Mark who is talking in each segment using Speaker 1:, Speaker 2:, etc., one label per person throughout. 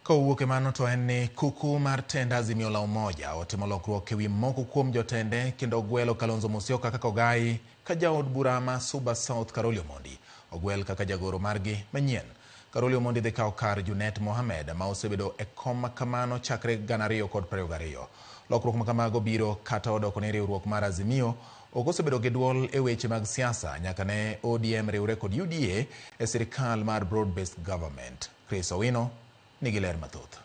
Speaker 1: Ka owuok e mano to en ni kuku mar tend Azimio la Umoja otimo lokruok e wi moko kuom jotende kendo ogwelo Kalonzo Musyoka kaka ogayi ka jaod bura ma Suba South Karoli Omondi ogwel kaka jagoro margi manyien. Karoli Omondi dhi kawo kar Junet Mohamed ma osebedo e kom ma kamano chakre gana ariyo kod prariyo gariyo. Lokruok ma kamago biro kata odoko ni riwruok mar Azimio ok osebedo gi duol e weche mag siasa nyaka ne ODM riwre kod UDA e sirkal mar broad based government. Chris Owino nigi ler mathoth.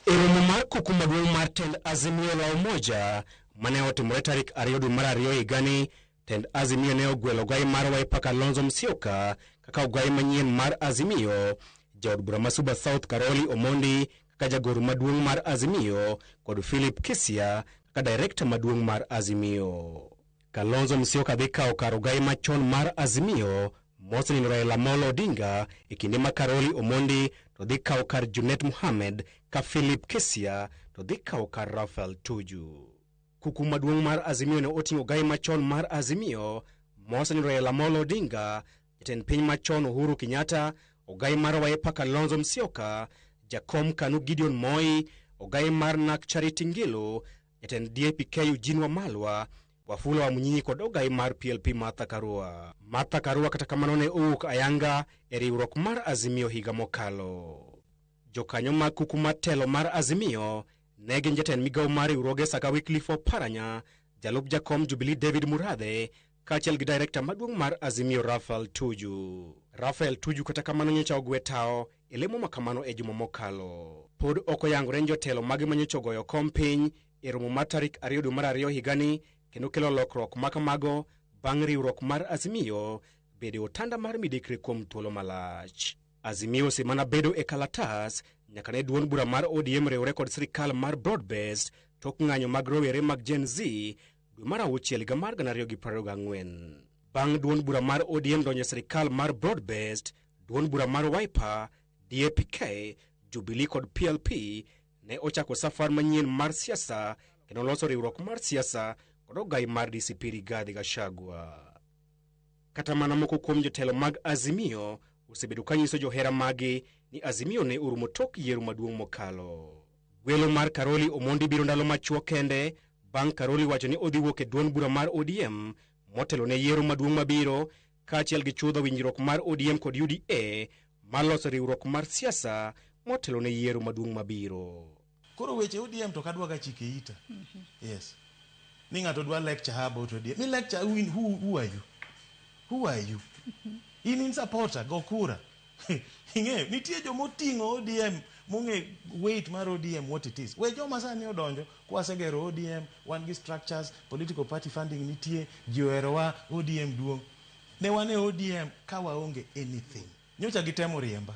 Speaker 1: E
Speaker 2: romo mar kuku maduong' mar tend Azimio la Umoja mane otimore tarik ariyo dwe mar ariyo higani, tend Azimio ne ogwelo ogai mar Wiper Kalonzo Musyoka kaka ogai manyien mar Azimio, jaod bura ma Suba South Karoli Omondi kaka jagoro maduong' mar Azimio kod Philip Kisya kaka direkta maduong' mar Azimio. Kalonzo Musyoka dhi kawo kar ogai machon mar Azimio mosenindo Raila Amolo Odinga e kinde ma Karoli Omondi to dhi kawo kar Junet Mohamed ka Philip Kesia to dhi kawo kar Raphael Tuju. Kuku maduong' mar Azimio ne oting'o ogai machon mar Azimio mosenindo Raila Amolo Odinga, jatend piny machon Uhuru Kenyatta, ogai mar Wiper Kalonzo Musyoka, jakom Kanu Gideon Moi, ogai mar NARC Charity Ngilu, jatend DAPK Eugene Wamalwa, Wafula wa Munyinyi kod ogai mar PLP Martha Karua. Martha Karua kata kamano ne owuok ayanga e riwruok mar Azimio higa mokalo. Jokanyo mag kuku mar telo mar Azimio ne gin jatend migawo mar riwruoge Saka Wycliffe Oparanya, jalup jakom Jubilee David Murathe kaachiel gi direkta maduong' mar Azimio Rafael Tuju. Rafael Tuju kata kamano nyocha ogwe tawo e lemo ma kamano e juma mokalo. Pod ok oyangore ni jotelo mage ma nyocha ogoyo kom piny e romo mar tarik ariyo dwe mar ariyo higani kendo kelo lokruok ma kamago bang' riwruok mar Azimio bedo e otanda mar midekre kuom thuolo malach. Azimio osemana bedo e kalatas nyaka ne duond bura mar ODM riwre kod sirkal mar broad based tok ng'anyo mag rowere mag Gen Z dwe mar auchiel higa mar 2024. Bang' duond bura mar ODM donjo e sirkal mar broad based, duond bura mar Wiper, DAPK, Jubilee kod PLP ne ochako safar manyien mar siasa kendo oloso riwruok mar siasa kod ogai mar DCP Rigathi Gachagua. Kata mana moko kuom jotelo mag Azimio osebedo ka nyiso johera magi ni Azimio ne orumo tok yiero maduong' mokalo. Gwelo mar Karoli Omondi biro ndalo machuok kende bang' Karoli wacho ni odhi wuok e duond bura mar ODM motelo ne yiero maduong' mabiro kaachiel gi chudho winjruok mar ODM kod UDA mar loso riwruok mar siasa motelo ne yiero maduong' mabiro. Koro weche
Speaker 3: ODM to kadwaga chike ita. Yes. Ni ng'ato dwa lecture her about ODM. Mi lecture who, in, who, who are you? Who are you? In in supporter, go kura. Ing'eyo, nitie joma oting'o ODM mong'e weight mar ODM what it is. We joma sani odonjo kwasegero ODM, wan gi structures, political party funding nitie, ji oherowa, ODM duong'. Ne wan e ODM ka waonge anything. Nyocha gitemo riemba.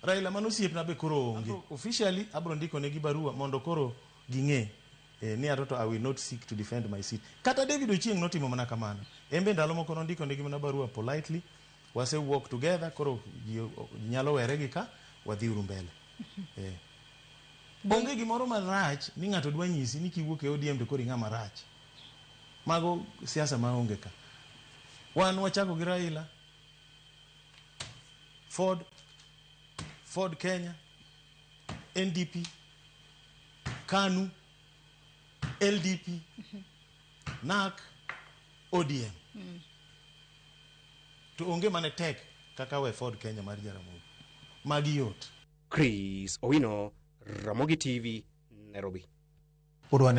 Speaker 3: Raila mano osiepna be koro onge. Officially abro ndiko negi barua mondo koro ging'e eh, ni atoto I will not seek to defend my seat. Kata David Ochieng notimo mana kamano. En be ndalo moko nondiko negi mana barua politely Wase work together koro ji nyalo were gi ka wadhi uru mbele. Eh. Onge gimoro marach ni ng'ato dwa nyisi ni kiwuok e ODM to koro ing'a marach. Mago siasa ma onge ka. Wan wachako gi Raila, Ford, Ford Kenya, NDP, KANU, LDP, NAK, ODM mm. to onge mane tek kaka we Ford Kenya mar Jaramogi magi yot
Speaker 2: Chris Owino Ramogi TV Nairobi